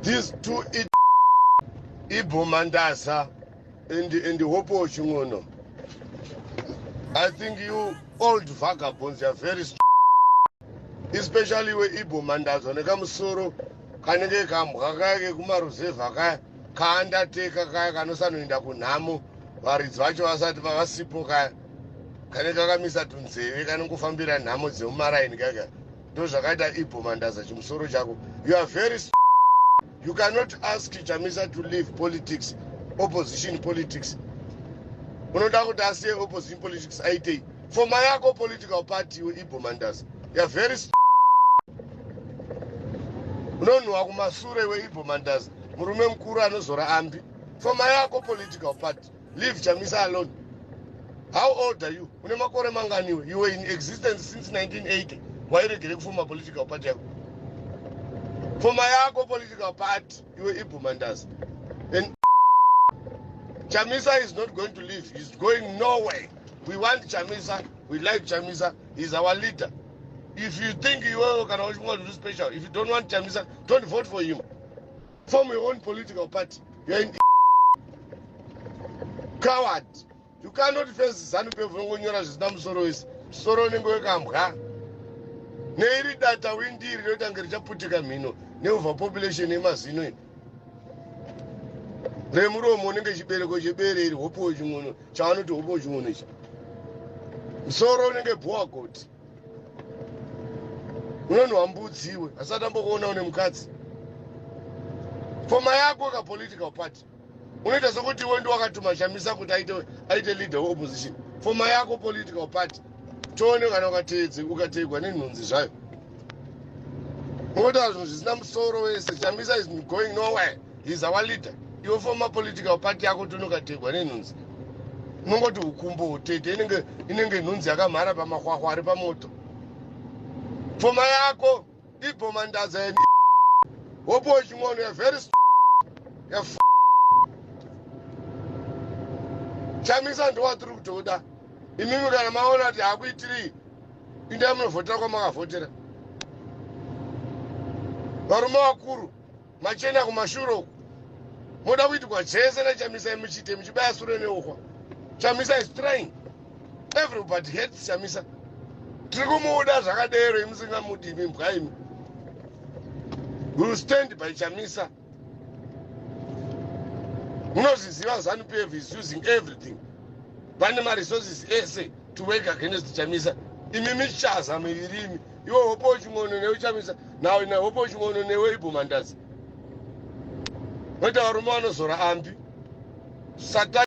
These two it Ibo Mandaza and and Hopo Chingono. I think you old vagabonds you are very strong. Especially we Ibo Mandaza nekamusoro kanenge kambwa kaya kekumariserva kaya kaandateka kaya kanosanoenda kunhamo varidzi vacho vasati vavasipo kaya kanenge kakamisa tunzeve kanongofambira nhamo dzemumaraini kaya kaya Ndozvakaita Ibho Mandaza chimusoro chako. You are very You cannot ask Chamisa to leave politics, opposition politics. Unoda kuti asiye opposition politics aitei? Foma yako political party Ibho Mandaza. You are very unonhuwa kumasure weibho mandazi murume mukuru anozora ambi foma yako political party leave chamisa alone how old are you une makore manganiwe you were in existence since 1980 wairegere kufuma political party yako pfuma yako political party iwe ibhumandas and chamisa is not going to leave he's going nowhere we want chamisa we like chamisa he's our leader if you think iwewe kana uchinga kuti special if you don't want chamisa don't vote for him form your own political party you're an coward you cannot face zanu pf vongonyora zvisina musoro wese musoro unenge wekambwa neiri data windiri rinotange richaputika mhino neuva population yemazino ino remuromo unenge chibereko chebere iri hopowo ching'ono chavanoti hopowo ching'ono ichi musoro unenge bhowa goti unonwa mbudzi iwe asati ambokuona une mukadzi foma yako ka political party unoita sokuti iwe ndi wakatuma chamisa kuti aite, aite leader weopposition foma yako political party tione kana ukateedze ukateegwa nenhunzi zvayo unotaura zvinhu zvisina musoro wese chamisa is going nowhere he's our leader iwe former political party yako tonokategwa nenhunzi unongoti ukumbo tete inenge inenge nhunzi yakamhara pamakwakwa ari pamoto pfoma yako ibhoma ndaza ya hopo chimwono ya very ya chamisa ndowatiri kutoda imimi kana maona kuti hakuitiri indai munovhotera kwamakavhotera varume vakuru Machena kumashure uku. Moda kuitwa chese na Chamisa muchite muchibaya sure neuhwa. Chamisa is trying. Everybody hates Chamisa. Tiri kumuda zvakadero imusingamudi imi mbwa imi. We will stand by Chamisa. Munozviziva Zanu PF is using everything. Vane ma resources ese to work against Chamisa. Imi michaza miviri imi. iwe hope uching'ono newe chamisa now ina hope uching'ono newe ibhomandazi voita varume vanozora ambi satan